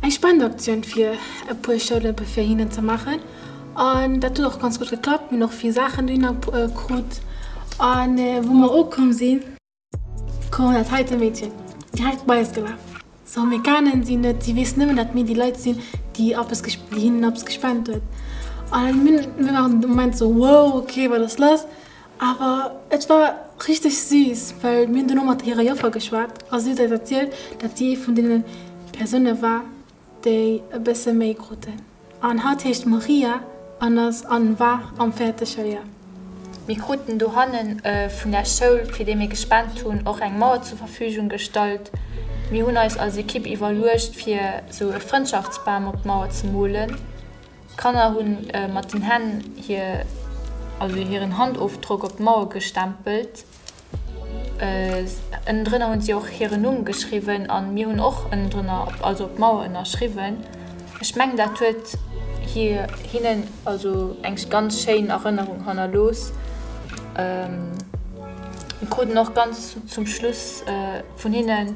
Eng Spendeaktioun fir e puer Schoulëmpe fir hinnen ze maachen an dat huet och ganz gutt geklappt. Mir hunn och vill Saachen dohinner krut a wou mer ukomm sinn, koum dat heite Meedchen direkt bei eis gelaf. Sou mir kennen si net, si weess nëmmen dat mir déi Leit sinn, déi eppes, déi hinnen eppes gespent huet an mir waren de Moment sou wow, ok wat ass lass? Awer et war richteg siiss, well mir hunn dono mat hirer Joffer geschwat a si huet eis erzielt, dat si ee vun deene Persoune war, déi e bësse méi kruten. An hatt heescht Maria an ass an war am fäerte Schouljor. Mir kruten dohanne vun der Schoul, fir déi mir gespent hunn, och eng Mauer zur Verfügung gestallt. Mir hunn eis als Ekipp iwwerluecht, fir esou e Frëndschaftsbam op d'Mauer ze molen. D'Kanner hunn mat den Hänn hir, also hiren Handofdrock op d'Mauer gestempelt. Ënnendrënner hunn si och hiren Numm geschriwwen an mir hunn och ënnendrënner, also op d'Mauer ënnerschriwwen. Ech mengen dat huet hinnen also eng ganz schéin Erënnerung hannerlooss. Mir kruten och ganz zum Schluss vun hinnen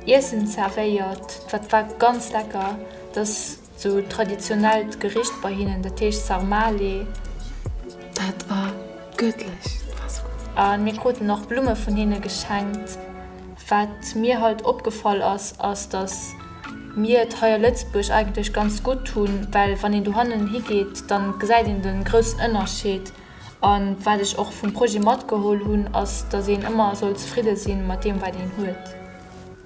Iessen zervéiert, dat war ganz lecker. Sou traditionellt Gericht bei hinnen, dat heescht Sarmale. Dat war göttlich, dat war sou gutt. A mir kruten och Blumme vun hinne geschenkt. Wat mir halt opgefall ass, ass, dass mir et hei a Lëtzebuerg eigentlech ganz gutt hunn, well wann een dohannen higeet, da gesäit een de groussen Ënnerscheed. A wat ech och vum Projet matgeholl hunn, ass, dass een ëmmer soll zefridde si mat deem, wat een huet.